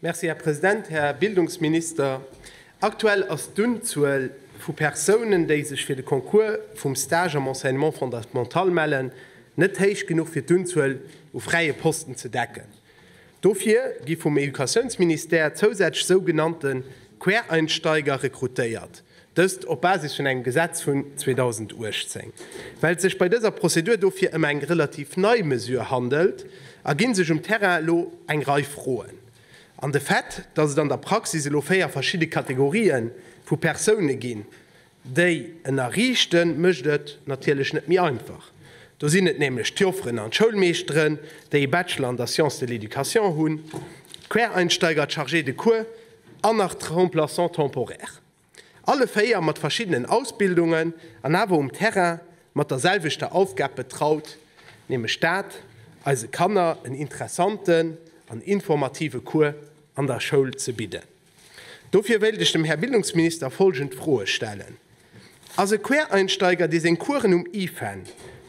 Merci, Här President. Här Bildungsminister, aktuell ass d'Unzuel vu Persounen, déi sech fir de Concours vum Stage am Enseignement fondamental mellen, net héich genuch fir d'Unzuel u fräie Posten ze decken. Dofir gi vum Educatiounsministère zousätzlech sougenannte Quereinsteiger rekrutéiert, dëst op Basis vun engem Gesetz vun 2018. Well et sech bei dëser Prozedur dofir ëm eng relativ nei Mesure handelt, erginn sech um Terrain elo eng Rei Froen. An de Fait, datt et an der Praxis elo véier verschidde Kategorië vu Persoune ginn, déi en erriichten, mécht et natierlech net méi einfach. Do sinn et nämlech d'Jofferen an d'Schoulmeeschteren, déi e Bachelor an der Science de l'éducation hunn, d'Quereinsteiger, d'Chargés de cours an nach d'Remplaçants temporaires. Alle véier mat verschiddenen Ausbildungen an awer um Terrain mat der selwechter Aufgab betraut, nämlech dat, eise Kanner en interessanten an informative Cours an der Schoul ze bidden. Dofir wéilt ech dem Här Bildungsminister folgend Froe stellen, Ass e Quereinsteiger, dee seng Coursen um IFAN,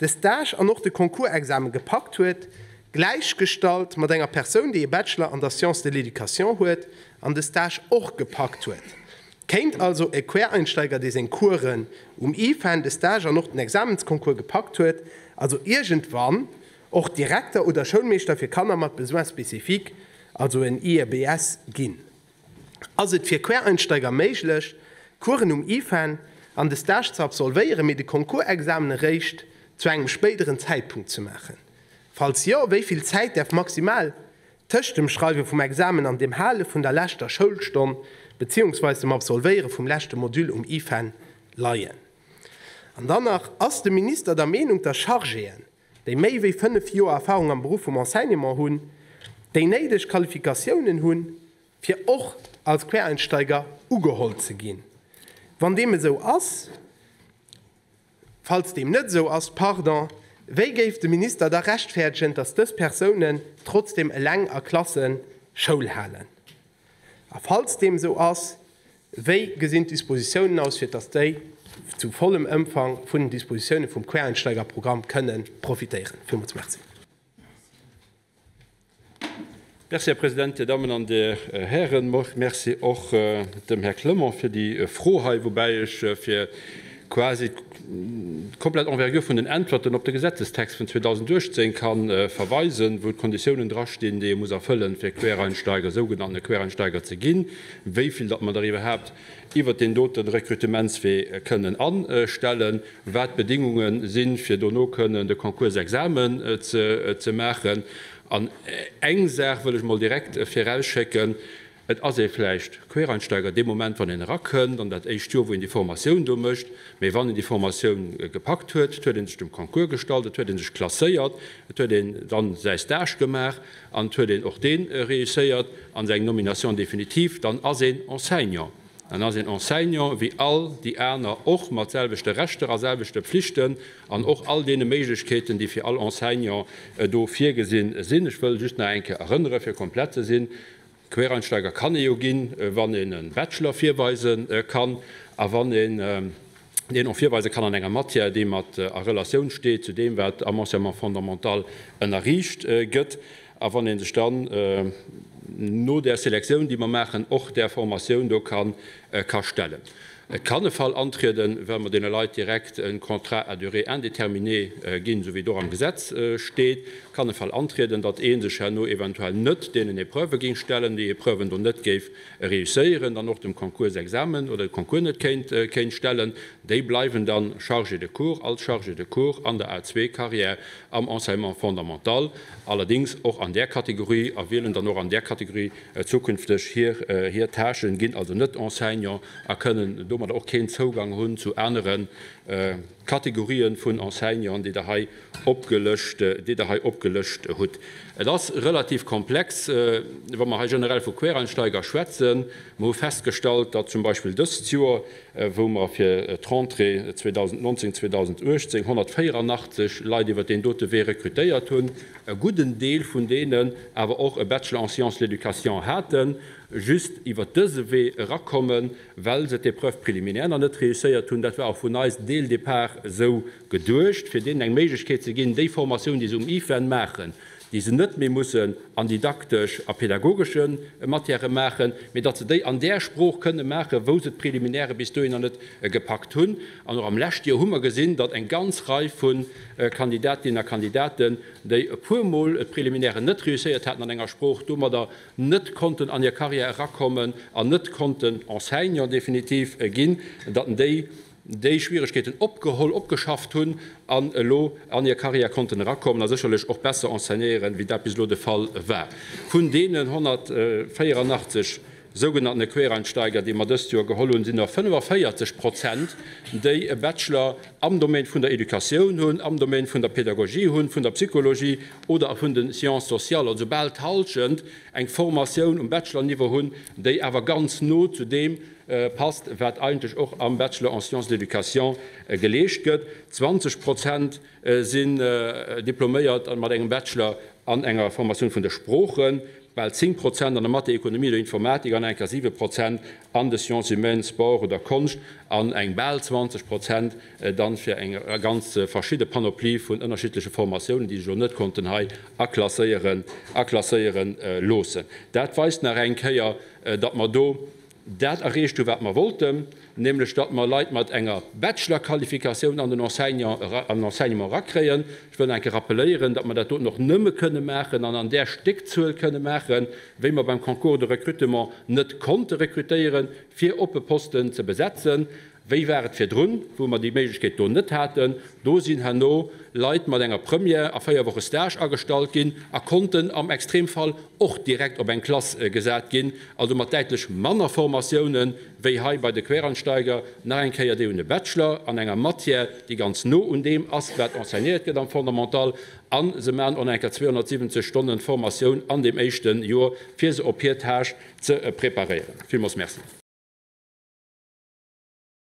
de Stage an och de Concours-Examen gepackt huet, gläichgestallt mat enger Persoun, déi e Bachelor an der Sciences de l'éducation huet an de Stage och gepackt huet? Kéint also e Quereinsteiger, dee seng Coursen um IFAN, de Stage an och den Examensconcours gepackt huet, also iergendwann Och Direkter oder Schoulmeeschter fir Kanner mat Besoins spécifiques, also en IEBS, ginn. Ass et fir Quereinsteiger méiglech, d'Coursen um IFEN an de Stage ze absolvéieren, mee de Concours-Examen eréischt zu engem spéideren Zäitpunkt ze maachen? Falls jo, wéi vill Zäit däerf maximal tëscht dem Schreiwe vum Examen an dem Hale vun der leschter Schoulstonn beziehungsweise dem Absolvéiere vum leschte Module um IFEN leien? An dann nach, Ass de Minister der Meenung, dass Chargéen, déi méi wéi 5 Joer Erfahrung am Beruff vum Enseignement hunn, déi néideg Qualifikatiounen hunn, fir och als Quereinsteiger ugeholl ze ginn. Wann deem esou ass, falls deem net esou ass, pardon, wéi géif de Minister da rechtfäerdegen, dass dës Persounen trotzdem eleng a Klasse Schoul halen? A falls deem esou ass, wéi gesinn d'Dispositiounen aus, fir dass déi zu vollem Ëmfang vun den Dispositiounen vum Quereinsteigerprogramm kënne profitéieren? Villmools Merci. Merci, Här President, Dir Dammen an Dir Hären. Merci och dem Här Clement fir déi Fro hei, woubäi ech fir quasi d'komplett Envergure vun den Äntwerten op de Gesetzestext vun 2018 ka verweisen, wou d'Konditiounen drastinn, déi ee muss erfëllen, fir Quereinsteiger, sougenannte Quereinsteiger ze ginn, wéi vill datt mer der iwwerhaapt iwwert deen doten Rekrutementswee kënnen anstellen, wat d'Bedingunge si fir dono kënnen de Concours-Examen ze maachen. An eng Saach wëll ech emol direkt virausschécken, Et ass ee vläicht Quereinsteiger dee Moment, wann een erakënnt an dat éischt Joer, wou een déi Formatioun do mécht. Mee wann een déi Formatioun gepackt huet, et huet ee sech dem Concours gestallt, et huet ee sech klasséiert, et huet een dann säi Stage gemaach an et huet een och dee réusséiert an seng Nomination définitive, dann ass een Enseignant. Dann ass een Enseignant wéi all déi aner och, mat selwechte Rechter a selwechte Pflichten an och all deene Méiglechkeeten, déi fir all Enseignant do virgesi sinn. Ech wëll just nach eng Kéier erënnere fir komplett ze sinn, Quereinsteiger kann ee jo ginn, wann een e Bachelor virweise kann a wann een deen och virweise kann an enger Matière, déi mat a Relatioun steet zu deem, wat am Enseignement fondamental ënnerriicht gëtt, a wann ee sech dann no där Selektioun, déi mer maachen, och där Formatioun do ka stellen. Et kann e Fall antrieden, wa mer deene Leit direkt e Contrat à durée indéterminée ginn, esou wéi et och am Gesetz steet, kann e Fall antrieden, datt ee sech herno eventuell net deenen Epreuve géing stellen, déi Epreuven do net géif réusséieren, dann och dem Concours-Examen oder de Concours net kéint stellen. Déi bleiwen da Chargé de cours als Chargé de cours an der A2-Carrière am Enseignement fondamental, allerdéngs och an där Kategorie, a wielen dann och an där Kategorie, Zukünfteg hir hir Tâchen ginn also net Enseignant a kënnen domadder och keen Zougang hunn zu anere Kategorien vun Enseignanten, déi Der hei opgelëscht, déi Der hei opgelëscht hutt. Et ass relativ komplex, wa mer hei generell vu Quereinsteiger schwätzen. Mer hu festgestallt, datt zum Beispill dëst Joer, wou mer fir d'Rentrée 2019, 2018 184 Leit iwwert deen dote Wee rekrutéiert hunn, e gudden Deel vun deenen awer och e Bachelor en sciences de l'éducation haten, just iwwert dëse Wee erakommen, well se d'Épreuve préliminaire nach net réusséiert hunn. Dat war och vun eis dès le départ esou geduecht, fir deenen eng Méiglechkeet ze ginn, déi Formatioun, déi se um IFEN maachen, déi se net méi mussen an didaktesch a pädagogesche Matièrë maachen, mee datt se déi an där Sprooch kënne maachen, wou se d'Préliminaire bis dohinner net gepackt hunn. An och am leschte Joer hu mer gesinn, datt eng ganz Rei vun Kandidatinnen a Kandidaten, déi e puer Mol e Préliminaire net réusséiert haten an enger Sprooch, domadder net konnten an hir Carrière erakommen an net konnten Enseignant definitiv ginn, datt déi déi Schwieregkeeten opgeholl, opgeschafft hunn an elo an hir Carrière konnten erakommen a sécherlech och besser enseignéieren, wéi dat bis elo de Fall war. Vun deenen 184 Sougenanntene Quereinsteiger, déi mer dëst Joer geholl hunn, sinn der 45 Prozent, déi e Bachelor am Domaine vun der Educatioun hunn, am Domaine vun der Pädagogie hunn, vun der Psychologie oder vun den Sciences sociales. Also bal d'Halschent eng Formatioun um Bachelor-Niveau hunn, déi awer ganz no zu deem passt, wat eigentlech och am Bachelor en sciences de l'éducation geleescht gëtt. 20 Prozent sinn diploméiert an mat engem Bachelor an enger Formatioun vun de Sproochen, bal 10 Prozent an der Mathé, Ekonomie oder Informatik an enker 7 Prozent an de Sciences humaines, Sport oder Konscht an eng bal 20 Prozent dann fir eng ganz verschidde Panoplie vun ënnerschiddleche Formatiounen, déi sech elo net konnten hei aklasséieren, aklasséiere loossen. Dat weist nach eng Kéier, datt mer do, dat erreecht hu wat mer wollten, nämlech datt mer Leit mat enger Bachelor-Qualifikatioun an den Enseignement erakréien. Ech wëll nach eng Kéier rappeléieren, datt mer dat doten och nëmme kënne maachen an an där Stéckzuel kënne maachen, wéi mer beim Concours de recrutement net konnte rekrutéiere fir oppe Posten ze besetzen. Wéi war et virdrun, wou mer déi Méiglechkeet do net haten? Do sinn herno Leit mat enger Première a véier Woche Stage agestallt ginn a konnten am Extremfall och direkt op eng Klass gesat ginn, also mat däitlech manner Formatioune wéi hei bei de Quereinsteiger. Nach eng Kéier, déi hunn e Bachelor an enger Matière, déi ganz no un deem ass, wat enseignéiert gëtt am Fondamental, a se maachen och nach eng Kéier 270 Stonne Formatioun an deem éischte Jor, fir se op hir Tâche, ze preparéieren. Villmools Merci.